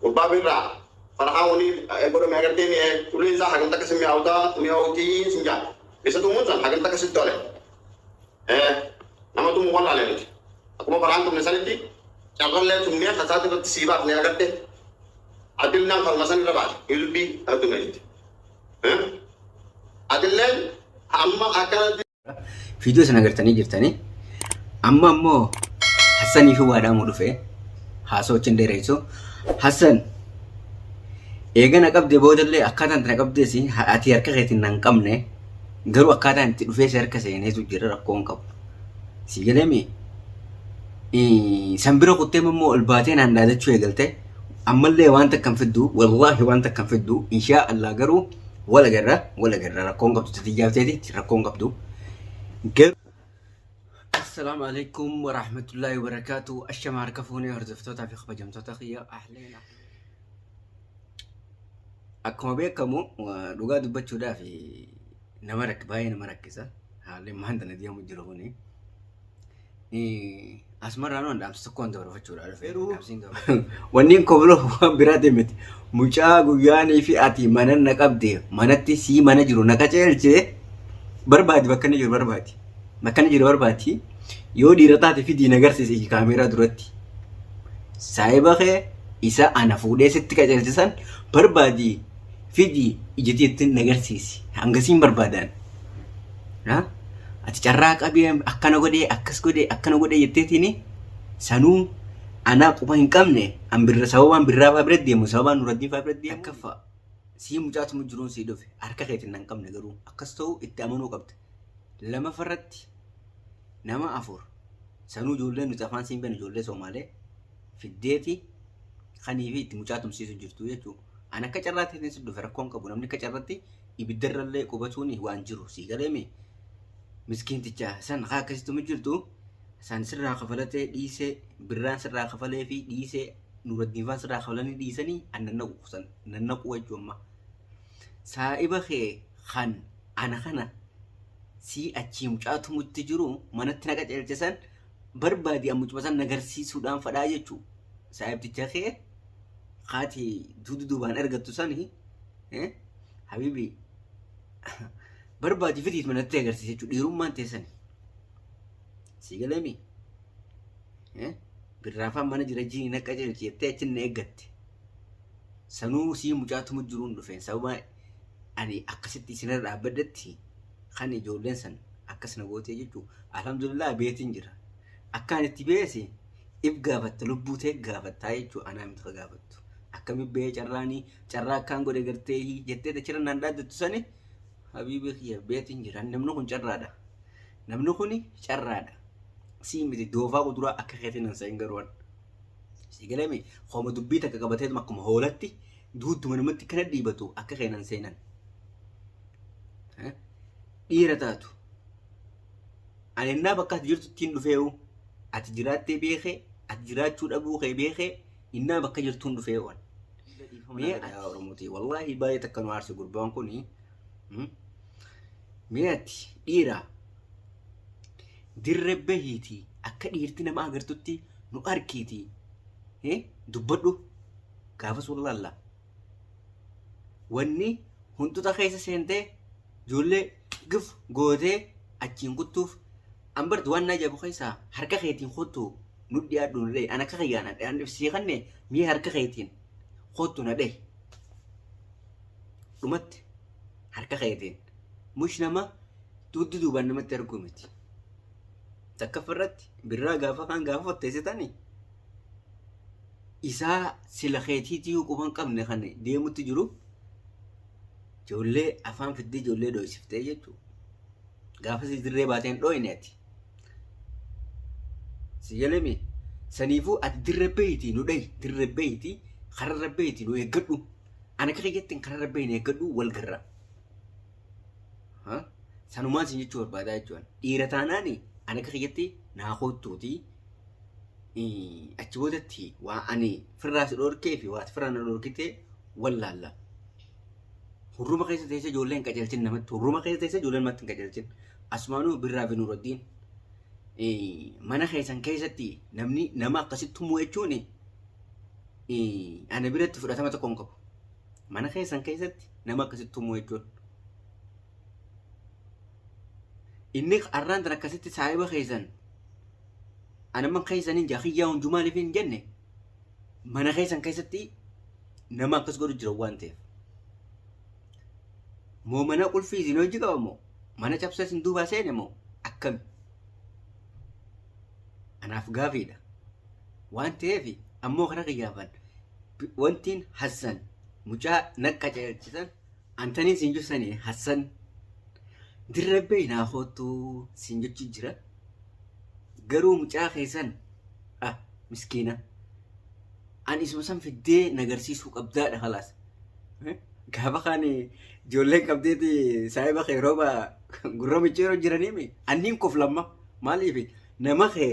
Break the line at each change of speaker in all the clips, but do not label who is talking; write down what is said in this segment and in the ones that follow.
Gubbaa birraa farahaa wani godhame agartee mi'ee ulee isaa hagam takka sin mi'aawutaa mi'aawutii sin jaan isa tumuun san hagam takka sitti ole nama tumu wallaale nuti akkuma faraan tumne sanitti carrallee tumnee kasaati irratti sii baafne agartee adillaan farma san irra baate ilbii adduma jetti adilleen amma akkanatti Fiidiyoo sana
agartanii jirtanii. Amma ammoo Hassanii fi waadaamuu dhufee haasoo wajjin dheereessu. Hassan eega na qabdee boodallee akkaataan itti na qabdees ati harka keetiin na hin qabne garuu akkaataan itti dhufee si harka seeneetu jira rakkoon qabu. Si galeemi san bira kuttee immoo ol baatee naan dhaadachuu eegalte ammallee waan takka hin fiddu wallaahi waan takka hin fiddu inshaa Allah garuu Wal agarra, wal agarra. Rakkoon qabdu tatiyyaa teeti, rakkoon qabdu. Garuu Assalaamu alaikum wa rahmatullahi wa barakaatu. Ashama harka fuunee hordoftootaa fi kabajamtoota kiyya ahleen. Akkuma beekamu wa- dhugaa dubbachuudhaaf nama rakk baay'ee nama rakkisa. Haalli maanta na deemu jiru kuni. Asmarraa nu dhaamsa tokkoon dabarfachuudha dhufe. Wanni koo bira waan biraati miti. Mucaa guyyaanii fi ati mana na qabde manatti sii mana jiru na qaceelche barbaadi bakka inni jiru barbaadi. Bakka inni jiru barbaadi. Yoo dhiira taate fidii na garsiise kaameeraa duratti. Saayiba kee isa ana fuudhee sitti qaceelchisan barbaadi fidii ijitiitti na garsiisi. Hangasiin barbaadaan. Na? Ati carraa qabee akkana godhee akkas godhee akkana godhee jetteetiini sanuu anaa quba hin qabne an birra sababaan birraa faa bira deemu sababaan nuraddiin faa bira deemu takkaffaa sii mucaatuma jiruun sii dhufe harka keetiin nan qabne garuu akkas ta'uu itti amanuu qabda lamafa irratti nama afur sanuu ijoollee nuti afaan siin beeknu ijoollee soomaalee fiddeeti kanii fi itti mucaatumsiisu jirtu jechuudha an akka carraa ta'eetiin si dhufe rakkoon qabu namni akka carratti ibiddarrallee qubatuun waan jiru sii galeemi miskiinticha san haa akkasituma jirtu san sirraa kafalatee dhiisee birraan sirraa kafalee fi dhiisee nuraddiinfaan sirraa kafalanii dhiisanii an nannaqu kusan nannaqu jechuu amma saa'iba kee kan ana kana sii achii mucaa tumutti jiru manatti na qajeelche san barbaadi an mucuma san nagarsiisuudhaan fadhaa jechuu saa'ibticha kee kaati duudu duubaan argattu sani eh, Habibi barbaadi firiit manatti agarsiisa jechuudha dhiirummaan teessani. Sii galeemi. Birraafaan mana jira jiini naqa jirti jettee achi na eeggatte. Sanuu sii mucaatuma jiruun dhufeen sababa ani akkasitti isinirra dhaabbaddetti kan ijoolleen san akkas na gootee jechuu alhamdulillah beetiin jira. Akkaan itti beese if gaafatta lubbuu ta'e gaafattaa jechuu anaa miti ka gaafattu. Akkami bee carraanii carraa akkaan godhe gartee jettee dachira naan dhaaddattu sani habiibii kiyya beetiin jira namni kun carraadha namni kun carraadha sii miti doofaa kuduraa akka keetiin nan sa'in garuwan sii galame hooma dubbii takka qabateetuma akkuma hoolatti duuttuma namatti kana dhiibatu akka keenan seenan dhiira taatu ani ennaa bakka ati jirtu ittiin dhufeewu ati jiraattee beekee ati jiraachuu dhabuu kee beekee innaa bakka jirtuun dhufeewwan Mee ati Oromooti wallaahi baay'ee takka nu aarse gurbaan kun mee ati dhiira dirre bahiiti akka dhiirti nama agartutti nu arkiiti dubbadhu gaafas wallaalla wanni huntuta keessa seentee ijoollee gif gootee achiin kuttuuf an barti waan naa jaabu keessaa harka keetiin kottu nu dhiyaadhu na dhahi an akka kiyyaa na dhahi an sii kanne mii harka keetiin kottu na dhahi dhumatti harka keetiin mush nama dugdi duubaan namatti arguu miti takkaf irratti birraa gaafa kaan gaafa fatteessitani isaa sila keetiitii quban qabne kan deemutti jiru Ijoollee afaan fiddee ijoollee dhoysiftee jechuudha. Gaafasii dirree baateen dhoyne ati. Si jalame saniifuu ati dirree beeyti nu dhayi dirree beeyti kararra beeyti nu eeggadhu. Ana akka kiyyattiin kararra beeyi nu eeggadhu wal garra. Sanumaan sin jechuu barbaadaa jechuudha. Dhiira taanaan ana akka kiyyatti naa koottuutii achi boodatti waa ani firraa si dhorkee fi waa firraa na dhorkitee wallaalla. Hurruma keessa teessee ijoollee hin qajeelchin namatti. Hurruma keessa teessee ijoollee namatti hin qajeelchin. Asumaanuu Birraa fi Nuuraddiin mana keessan keessatti namni nama akkasitti tumuu jechuun ana biratti fudhatama tokko hin qabu. Mana keessan keessatti nama akkasitti tumuu jechuun. Inni arraan tan akkasitti saahiba keessan anamman keessan hin jaa kiyyaa hunjumaa lifi hin jenne mana keessan keessatti nama akkas godhu jira waan ta'eef. Moo mana qulfii isin hojii qaba moo mana cabsa isin duubaa seene moo akkami? Anaaf gaafiidha. Waan ta'eef ammoo kana kiyyaafan wantiin Hassan mucaa naqqa ceechisan antanii isin jibsanii Hassan dirrebbee naa hoottuu isin jechuu jira. Garuu mucaa keessan ah miskiina an isuma san fiddee nagarsiisuu qabdaadha kalaas gaafa kaan ijoolleen qabdeeti saahiba kee rooba gurra micciiroo jiraniimi anniin kof lamma maaliif nama kee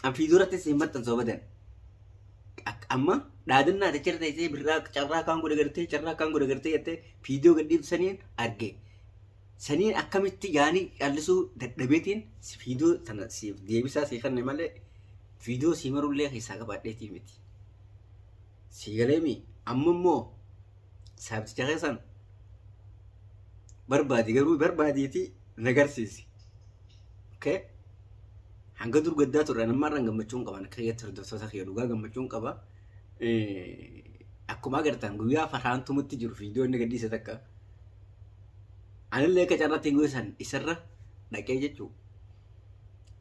an fiiduratti si hin maxxansu abadan amma dhaadannaa ati cirta isee birraa carraa kaan godhe gartee carraa kaan godhe gartee jettee fiidiyoo gadhiiftu saniin arge Saniin akkamitti yaanii callisuu dadhabeetiin viidiyoo tana siif deebisaa sii kanne malee viidiyoo sii marullee keessaa qabaadheetii miti. Sii galeemi amma immoo saabticha keessan barbaadi garuu barbaadiitii nagarsiisi. Okay? Hanga dur gaddaa turre nammarraan gammachuun qaban akka keessatti hordoftoota kiyya dhugaa gammachuun qaba. akkuma agartan guyyaa farhaan tumutti jiru viidiyoo inni gadhiise takka anillee akka carratti guyyaa san isarra dhaqee jechuu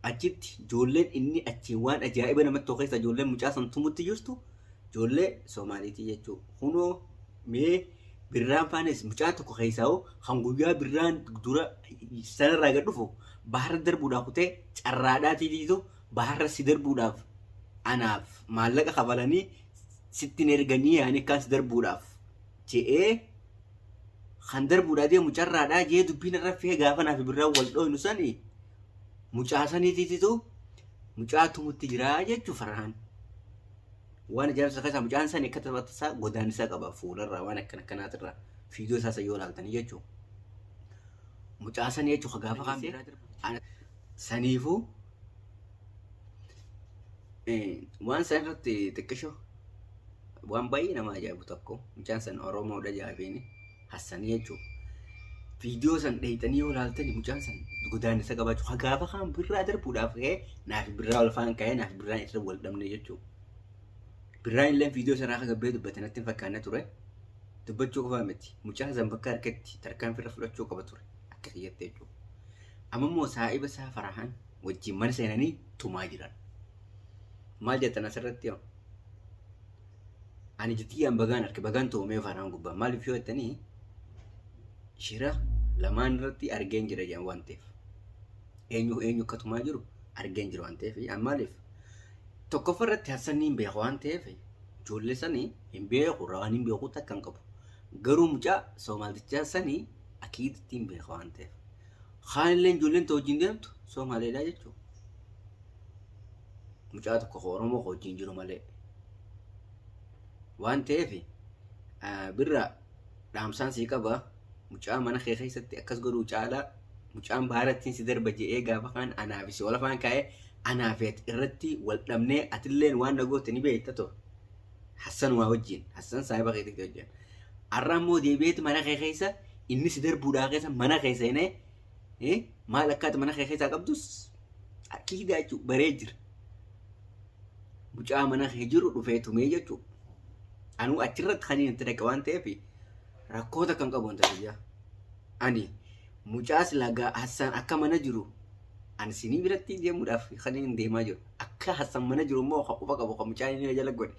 achitti ijoolleen inni achiin waan ajaa'iba namatti too keessa ijoolleen mucaa san tumutti jirtu ijoollee Soomaaliitii jechuu kunoo mee birraan faanis mucaa tokko keessaa hoo kan guyyaa birraan dura sanarraa gad dhufu baharra darbuudhaa kutee carraadhaa tiitiitu baharra si darbuudhaaf anaaf maallaqa kafalanii sitti hin erganii yaani akkaan si darbuudhaaf je'ee kan darbuudhaa deemu carraadhaa jee dubbiin irra fee gaafa naaf birraa wal dhooynu sani mucaa saniitiititu mucaa tumutti jiraa jechuu farhaan waan ijaarsa keessaa mucaan sani akka taphata isaa godaan isaa qaba fuularraa waan akkana akkanaatirraa fiidiyoo isaa isa yoo ilaaltanii jechuu mucaa sani jechuu ka gaafa kaan birraa darbu Saniifuu waan san irratti xiqqisho waan baay'ee nama ajaa'ibu tokko mucaan san Oromoodha jaafiin Hassanii jechuudha. Viidiyoo san dheeyxanii yoo ilaaltani mucaan san godaannisa qabaachuu hagaafa kaan birraa darbuudhaaf ka'ee naaf birraa ol faan ka'ee naaf birraan irra wal dhabne jechuudha. Birraan illee viidiyoo sanaa akka gabbee dubbate natti hin fakkaanne ture. Dubbachuu qofaa miti mucaan san bakka harkatti tarkaanfii irra fudhachuu qaba ture akka kiyyatti jechuudha. Amma immoo saahiba isaa Farahaan wajjin mana seenanii tumaa jiran. Maal jettan asirratti hoo? Ani jitiyyaan bagaan arke bagaan toomee Farahaan gubbaa maaliif yoo jettanii shira lamaan irratti argeen jira jedhan waan ta'eef. Eenyu eenyu akka tumaa jiru argeen jira waan ta'eef an maaliif tokkoffaa irratti Hassan hin beeku waan ta'eef ijoollee sanii hin beeku rawaan hin beeku takka hin qabu. Garuu mucaa soomaaltichaa sanii Akiid ittiin beeka waan ta'eef. Kaan illee ijoolleen ta'u wajjin deemtu Somaaleedha jechuudha. Mucaa tokko koo Oromoo koo wajjin jiru malee. Waan ta'eef birra dhaamsaan sii qaba mucaa mana kee keessatti akkas godhuu caalaa mucaan baarattiin si darba je'ee gaafa kaan anaa fi si wal afaan kaa'ee anaa fi ati irratti wal dhabnee atilleen waan na goote ni beekta too. Hassan waa wajjin Hassan saahiba keetii wajjin. Arra ammoo deebi'eeti mana kee keessa inni si darbuudhaa keessa mana kee seenee eh, maal akkaati mana kee keessaa qabdus kiidaa jechuu baree jira. Mucaa mana kee jiru dhufee tumee jechuu. Anuu achirratti kan inni itti dhaqe waan ta'eef rakkoota kan qabu wanta biyyaa. Ani mucaa silaa gaa Hassaan akka mana jiru ani sinii biratti deemuudhaaf kan inni deemaa jiru. Akka Hassaan mana jiru immoo kan quba qabu kan mucaan inni na jala godhe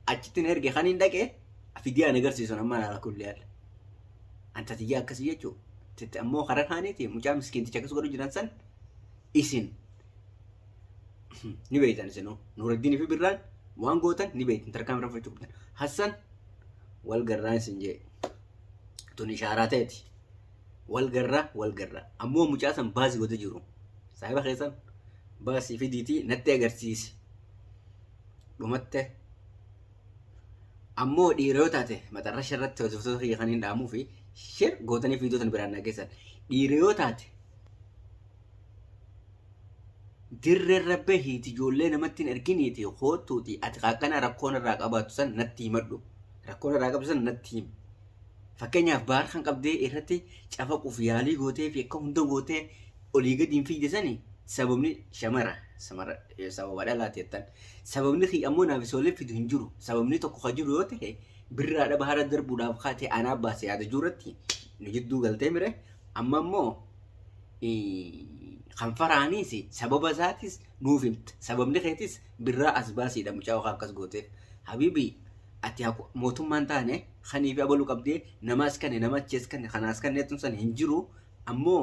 achitti na erge kan hin dhaqe. Afidii ani agarsiisun amma laala kulli alla. Anta tiyyaa akkasii jechuu. Titti ammoo karaa kaaniiti mucaa miskiinticha akkas godhu jiran san isin ni beektan isinuu. Nuuraddiin fi birraan waan gootan ni beektan tarkaan irra fudhachuu qabdan. Hassan wal garraa isin jee. Tun ishaaraa ta'eeti. Wal garraa wal garraa. Ammoo mucaa san baasii godhu jiru. Saahiba keessan baasii fidiitii natti agarsiisi. Dhumattee. Ammoo dhiira yoo taate maxarrasha irratti hojjettoota kiyya kan hin dhaamuu fi shir gootanii viidiyoo tan biraan dhageessan. Dhiira yoo taate dirree irra bahiiti ijoollee namatti hin erginiiti koottuuti ati qaaqqana rakkoon irraa qabaatu san natti himadhu. Rakkoon irraa qabdu san natti himi. Fakkeenyaaf baar kan qabdee irratti cafaquuf yaalii gootee fi akka hunda gootee olii gadi hin fiigde sani sababni shamara samara sababa dhalaati jettan sababni kiyya ammoo naaf isoolee fidu hin jiru sababni tokko ka jiru yoo ta'e birraa dhaba hara darbuudhaaf kaatee anaa baase yaada jirratti nu jidduu galtee mire amma ammoo kan faraaniis sababa isaatis nuuf himta sababni keetis birraa as baasiidha mucaa okaa akkas gooteef habibi ati mootummaan taane kaniif abalu qabdee namaas kanne nama achees kanne kanaas kanne tun san hin jiru Ammoo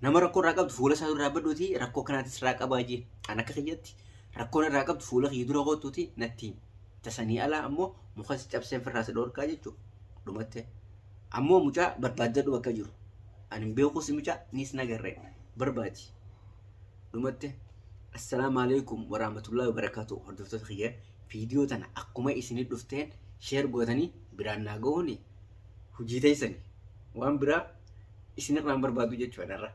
nama rakkoo irraa qabdu fuula isaa dura dhaabbadhuuti rakkoo kanaatti sirraa qabaa jee. An akka kiyyatti rakkoon irraa qabdu fuula kiyya dura kootuuti natti himi. Tasanii alaa ammoo muka si cabseen firraa si dhoorkaa jechuu dhumattee. Ammoo mucaa barbaaddadhu bakka jiru. Ani hin beeku si mucaa niis nagarree barbaadi. Dhumatte assalaamu alaikum warahmatullahi wabarakatuh hordoftoota kiyya viidiyoo tana akkuma isinii dhufteen sheer gootanii biraan naa gahuuni hujii teessani waan biraa isinirraa hin barbaadu jechuudha dharra.